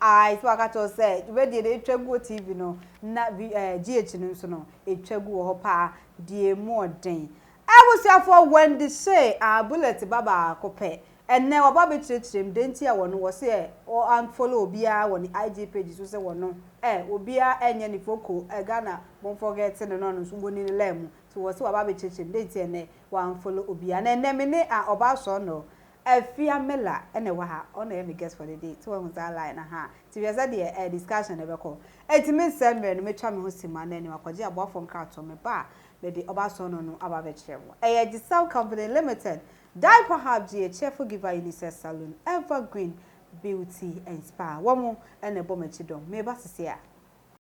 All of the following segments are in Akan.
Ae, sɛ wɔaka akyerɛ wo sɛ dwumadie no twa gu wɔ TV no na GH no nso no ɛtwa gu wɔ hɔ paa deɛ mu ɔden. Abusuafoɔ Wendy hyee a bullet ba baako pɛ. Ɛnnɛ waba abɛkyerɛkyerɛ mu dɛn nti a wɔno wɔ se wɔ unfollow obiara wɔ ne IG page so sɛ wɔno eh obiara ɛnyɛ ne foko eh Ghana mo nforgɛte no na ɔno nso wɔni ne line mu nti wɔ se waba abɛkyerɛkyerɛ mu dɛn nti ɛnnɛ wɔ unfollow obiara na ɛnnɛ me ne a ɔbaa sɔɔnɔ Afia Miller na ɛwɔ ha, ɔno na ɛyɛ me guest for the day, so wahu saa line no, ahaa, nti hwɛ sɛ deɛ ɛɛ discussion no bɛkɔ. Enti mensɛe mmerɛ no, mɛtwa me ho simma no anim akɔgye aboafoɔ nkratoɔ, meba a, mede ɔba ason no no aba abɛkyerɛ mo. Ɛyɛ Agyesɛw Company Limited, Diaper Hub gye, Cheerful Giver Unisex Salon, Evergreen Beauty and Spa, wɔn na ɛbɔ m'akyi dɔm. Meba seesei a.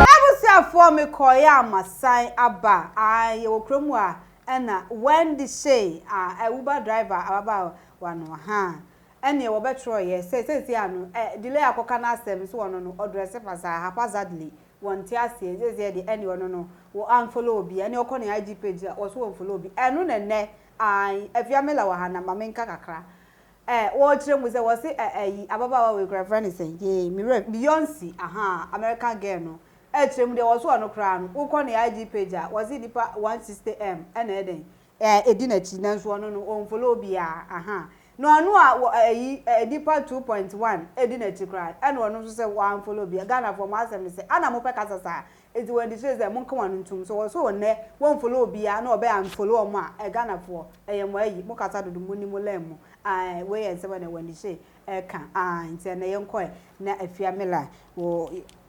M'abusuafoɔ mekɔeɛ a masan aba ae yɛwɔ kuro mu a ɛna Wendy Shay a uber driver ababaawa no ahaa Ɛneɛ wɔbɛtwerɛ yɛ sɛ seesei a no ɛ delay akɔka n'asɛm so ɔno no ɔdrɛse fasaa haphazardly wɔnte aseɛ nseesei deɛ ɛneɛ ɔno no wɔ unfollow obi ɛneɛ ɔkɔ ne IG page a wɔso wɔnfollow obi ɛno na ɛnɛ ae Afia Miller wɔ ha na ma menka kakra ɛ wɔrekyerɛ mu sɛ wɔse ɛ ayi ababaawa wei koraa yɛfrɛ no sɛn yee me werɛ Beyonce ahaa American girl no ɛkyerɛ mu deɛ wɔso ɔno koraa no wokɔ ne IG page a wɔse nnipa 160M ɛna ɛdɛn Eh edi nakyi nanso ɔno no ɔnfollow obiaa ahaa na ɔno a wɔ ayi eh nipa two point one edi nakyi koraa ɛna ɔno nso sɛ wa nfollow obiaa Ghana foɔ mo asɛm ne sɛ ana mopɛ kasa saa nti wɔ adi seesei monka wɔn ano ntom so wɔ so ɔnɛ wɔ nfollow obiaa na ɔbɛ unfollow ɔmo a eh Ghana foɔ ɛyɛ mo ayi mo kasa dodo mo ni mo lɛn mu aah eh wei yɛ nsɛm a na wɔ adi sei ɛka aah nti ɛnɛ yɛnkɔ eh na afia mela wɔ.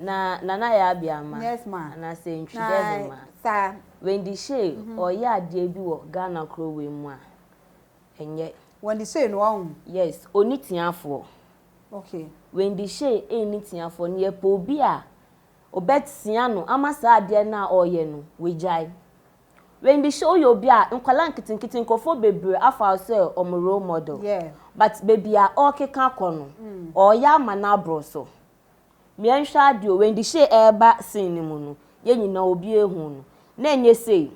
Na Nana yɛ abia ma Yes ma. anaasɛ ntwi dɛ he ma? Na saa. Wendy Shay ɔɔyɛ adeɛ bi wɔ Ghana kuro wei mu a ɛnyɛ. Wendy Shay no ɔho. Yes, ɔnni tiafoɔ. Okay. Wendy Shay nni tiafoɔ na yɛpɛ obi a ɔbɛtia no ama saa adeɛ no a ɔɔyɛ no wagyae. Wendy Shay woyɛ obi a nkwadaa nketenkete nkorɔfoɔ bebree afa wo sɛ wɔn role model. Yeah. But baabi a ɔɔkeka kɔ no ɔɔyɛ ama no aboro so. Yɛnhwɛ adeɛ o, Wendy Shay ɛreba scene no mu no, yɛn nyinaa obi ehu no. Na ɛnyɛ sei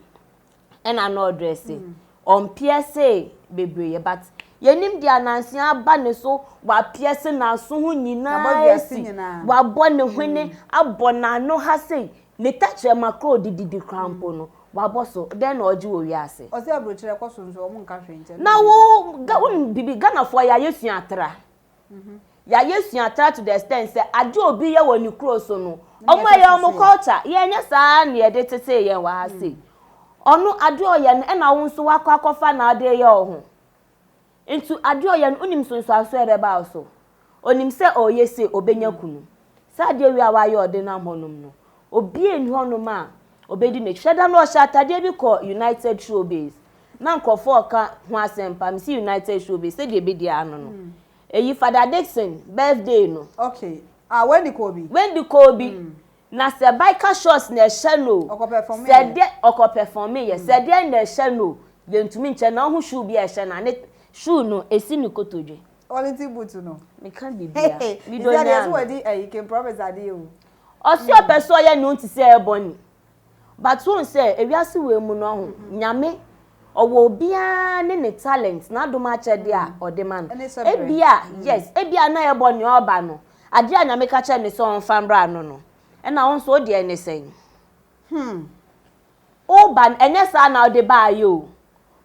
ɛna na ɔdrɛse. Ɔmpiɛse bebree but yɛnim deɛ ananse aba ne so, wapiɛse n'aso ho nyinaa asi, wabɔ ne hwene, abɔ n'ano ha sei, ne tɛkyerɛma koraa a ɔde didi koraa mpo no, wabɔ so. Dɛn na ɔregye wɔ wiase? Ɔse abrokyire kɔ so nso wɔn nka hwee nkyɛn. Na wo, wonim biribi, Ghanafoɔ yɛa yɛsua atra. Yɛayɛ suatra to the extent sɛ ade a obi yɛ wɔ ne kuro so no, wɔn ɛyɛ wɔn culture. Yɛnyɛ saa na yɛde tetee yɛn wɔ ha sei. Ɔno ade a ɔyɛ no ɛna wo nso wakɔ akɔfa na ɔde yɛ wo ho. Nti ade a ɔyɛ no wonim nsonsoanso a ɛbɛba wo so. Onim sɛ ɔreyɛ sei ɔbɛnya kunu. Saa adeɛ wei a wayɛ ɔde nam hɔnom no, obiara nni hɔnom a obedi no akyi. Dada no ɔhyɛ atadeɛ bi kɔ United Showbiz na nkurɔfoɔ reka ho asɛmpa, mese United Showbiz sɛdeɛ ɛbɛdi ara no no, ɛyi Fada Dickson birthday no. Okay, ah Wendy kɔɔ bi? Wendy kɔɔ bi, na sɛ biker shorts na ɛhyɛ no o, Ɔkɔ pɛfɔmeeɛ? sɛdeɛ, ɔkɔ pɛfɔmeeɛ, sɛdeɛ na ɛhyɛ no o, yɛntumi nkyɛ na wohu shoe bi a ɛhyɛ no a ne shoe no ɛsi ne kotodwe. Quality boot no. Meka biribiara, medɔ He said, nyaa yɛse no. wadi ayi King Promise adeɛ o. Ɔse ɔpɛ sɛ ɔyɛ ne ho te sɛ Ebony but wohu sɛ ewiase wei mu no ɔho Nyame ɔwɔ obiara ne ne talent n'adom akyɛde a ɔde ma no ebia yes ebia na Ebony ɔɔba no adeɛ a Nyame ka kyerɛ no sɛ ɔnfa mbra no no ɛna wo nso wo deɛ ne sɛn? Hmm. Woba no ɛnyɛ saa na wode baeɛ o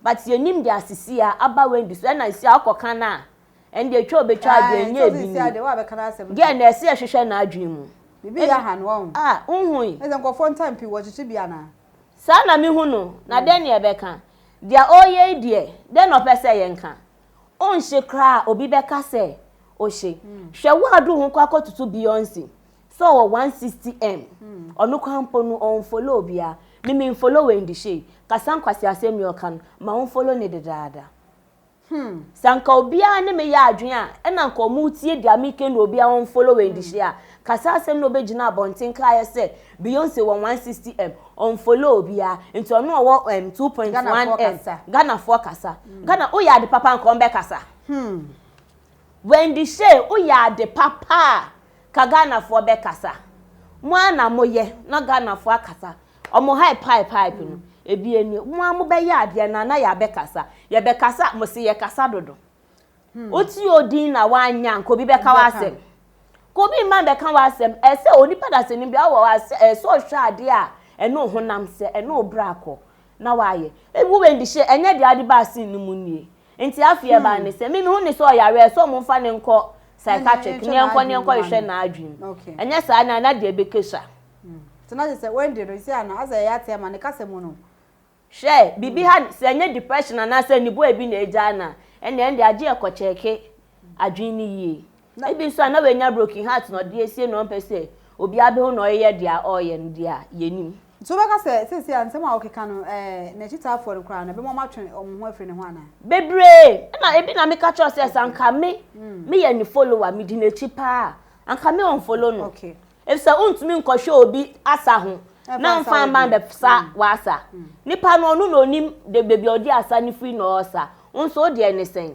but yɛnim deɛ asisi a aba Wendy so ɛna nsia wokɔka no a ɛno deɛ twa a obɛtwa deɛ ɛnyɛ bi ni girl no ɛsɛ yɛhwehwɛ n'adwene mu Biribi yɛ ha no wahu. Ah wohui. Ɛsɛ nkurɔfoɔ ntam pii wɔkyekye bi anaa? Saa na mehu no na dɛn na yɛbɛka? Deɛ ɔreyɛ yi deɛ dɛn na ɔpɛ sɛ yɛnka? Wonhye koraa a obi bɛka sɛ ohye. Hwɛ woadu ho kɔ akɔtoto Beyonce Sɛ ɔwɔ 160M ɔno koraa mpo no ɔnfollow obiara me me nfollow Wendy Shay kasa nkwaseasɛm ni ɔka no ma wo nfollow ne dedaada hmm sɛ anka obiara ne me yɛ adwene a ɛna anka ɔmo tie deɛ meka no obiara ɔnfollow Wendy Shay a kasa asɛm na ɔbɛgyina abɔnten ka ayɛ sɛ Beyonce wɔ 160M ɔnfollow obiara nti ɔno ɔwɔ um, 2.1M Ghanafoɔ kasa hmm. Ghana woyɛ ade papa anka ɔmbɛkasa hmm. Wendy Shay woyɛ ade papa a ka Ghanafoɔ bɛ kasa mo ara na mo yɛ na Ghanafoɔ akasa ɔmo ha pipe pipe no ebi eni mo ara mo bɛ yɛ adeɛ na na yɛ abɛ kasa yɛ bɛ kasa mo se yɛ kasa dodo hmm. wo ti odin na wa nya nka obi bɛ ka wa asɛm ka obi mma bɛ ka wa asɛm ɛsɛ onipa da se ne bi awɔ wa asɛ ɛsɛ ɔhwɛ adeɛ a ɛne ohonam sɛ ɛne obra kɔ na wa yɛ ebi wɔ ndi hyɛ ɛnyɛ deɛ adi ba asin ne mu nie. Nti afei ɛbaa ne sɛ me mehu ne sɛ ɔyare a ɛsɛ ɔmo mfa ne nkɔ psychiatric ne ɛnkɔ ne ɛnkɔ hwehwɛ n'adwene mu ɛnyɛ saa na na deɛ ɛbɛkɛ sua. Nti na kyerɛ sɛ Wendy no sisi a no asɛ ɛyɛ ateɛ ma ne kasa mu no. Hwɛ biribi ha sɛ ɛnyɛ depression anaasɛ anibuo a ɛbi na ɛgyaa no a ɛnna ɛnde agye yɛ kɔ kyɛɛke adwene no yie. Na bi so a na oenya broken heart na ɔdze esie na ɔmmpɛ sɛ obiara behu na ɔreyɛ dza ɔreyɛ no dze a, yennyim. Ntsi wobɛka sɛ sesei a nsɛm a ɔkeka no ɛɛ n'ekyitaafoɔ no koraa no ɛbɛma ɔmo atwe ɔmo ho afiri ne ho anaa? Bebree! Nna ebi na meka kyerɛ wo sɛ sɛ anka me meyɛ ne follower medi n'ekyi paa a anka me unfollow no efisɛ untumi nkɔhwɛ obi asa ho na mmfa mma mmbɛsa w'asa. Nipa no ɔno na onim beebi a ɔde asa no firi na ɔresa wo nso wo deɛ ne sɛn?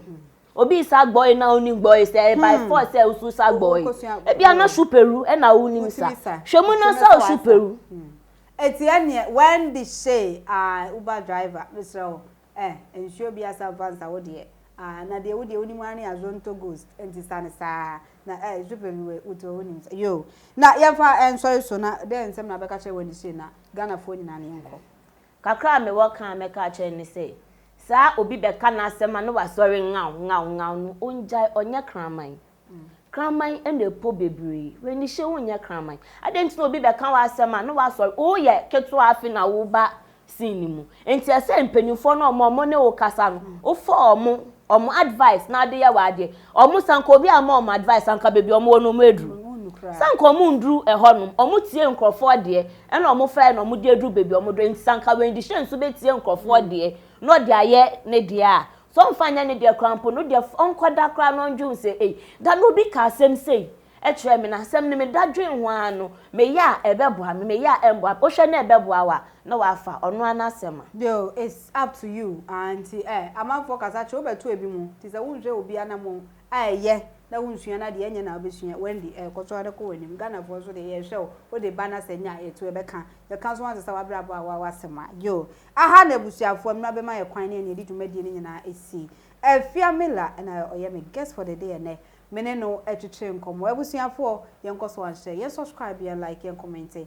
Obi resa gbɔe na onim gbɔe sɛ ɛyɛ by force sɛ wo nso sa gbɔe. Ebia na shoe peru na wunim sa. Hwɛ mu na sa wo shoe peru. Enti ɛneɛ Wendy Shay aah Uber driver mesrɛ wo eh nsuo bi asa mfa nsa wo deɛ aah na deɛ wo deɛ wonim ara ne Azonto Ghost enti sa no saa na eh shoe peru wei wo toɔ wonim sa yoo na yɛmfa nsɔre so na dɛn nsɛm na wobɛka kyerɛ Wendy Shay na Ghanafoɔ nyinaa na yɛnkɔ. Kakra a mewɔ ka a mɛka akyerɛ no ne sɛ, saa a obi bɛka n'asɛm a na wasɔre ngaw ngaw ngaw no, ongyae, ɔnyɛ kraman. Kraman na ɛpɔ bebree. W'anihyɛ wo nyɛ kraman. Adɛn nti na obi bɛka w'asɛm a na wasɔre, woyɛ ketewa afei na woreba scene no mu. Nti ɛsɛ sɛ mpanimfoɔ no a wɔne wo kasa no, wofa wɔn, wɔn advice na wode yɛ w'adeɛ. Wɔn, sɛ anka obi amma wɔn advice a, anka baabi a wɔwɔ no wɔaduru. Sɛ anka wɔnnduru hɔnom, wɔtie nkurɔfoɔ deɛ, Ɛna ɔmo fɛɛ na ɔmo de aduru baabi a ɔmo dɔ nti sɛ anka Wendy Hyɛn nso bɛtie nkorɔfoɔ deɛ na ɔde ayɛ ne deɛ a sɛ ɔmfa nyɛ ne deɛ koraa mpo no deɛ ɔnkɔ da koraa na ɔndwen ho sɛ ei da no obi kaa asɛm sei kyerɛɛ me na asɛm no me da dwen ho ara no meyɛ a ɛbɛboa me meyɛ a ɛmboa me wohwɛ na ɛbɛboa wo a na wafa ɔno ara n'asɛm a. Deal it's up to you aah nti eh amanfoɔ kasa kyerɛ wobɛto ebi mu nti sɛ wonhwɛ obiara na mo a ɛyɛ na wonsua no adeɛ ɛnyɛ na wobɛsua Wendy kɔ so ara kɔ w'anim Ghanafoɔ nso deɛ yɛhwɛ wo wode ba na sɛ nya a ɛtu ɛbɛka yɛka nso ansesa w'abrabɔ a woawo asɛm a yoo aha na abusuafoɔ mmra bɛma yɛ kwan ne ɛne ɛdi dwumadie no nyinaa ɛsi Afia Miller na ɔyɛ me guest for the day ɛnɛ me ne no ɛtwetwee nkɔmmɔ abusuafoɔ yɛnkɔ so anhyɛ yɛn subscribe yɛn like yɛn kɔmɛnte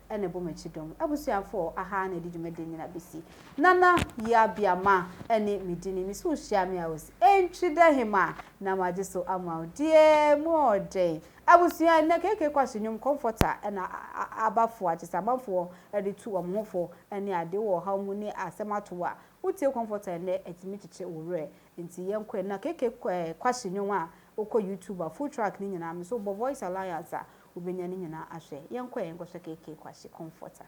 na ɛbɔ m'akyi dɔm abusuafoɔ aha na ɛde dwumadie nyina bɛsi Nana Yaa Biama ne me dini me so hyia me a ɔsi ɛntwi dɛ hemaa na magye so ama wo deɛ mu ɔɔden abusua ɛnɛ KK Kwaso nnwom kɔmfɔta na aba fo akyesɛ amanfoɔ de tu wɔn ho fo ne adeɛ wɔ ɔhaw mu ne asɛm ato wo a wotie kɔmfɔta ɛnɛ ɛtumi kyekye wo werɛ nti yɛnkɔ ɛnna KK Kwaso nnwom a wokɔ YouTube a full track ne nyinaa me so bɔ Voice Alliance a wobenya no nyinaa ahwɛ. Yɛnkɔ ɛ yɛnkɔhwɛ KK Kwashe Comforter.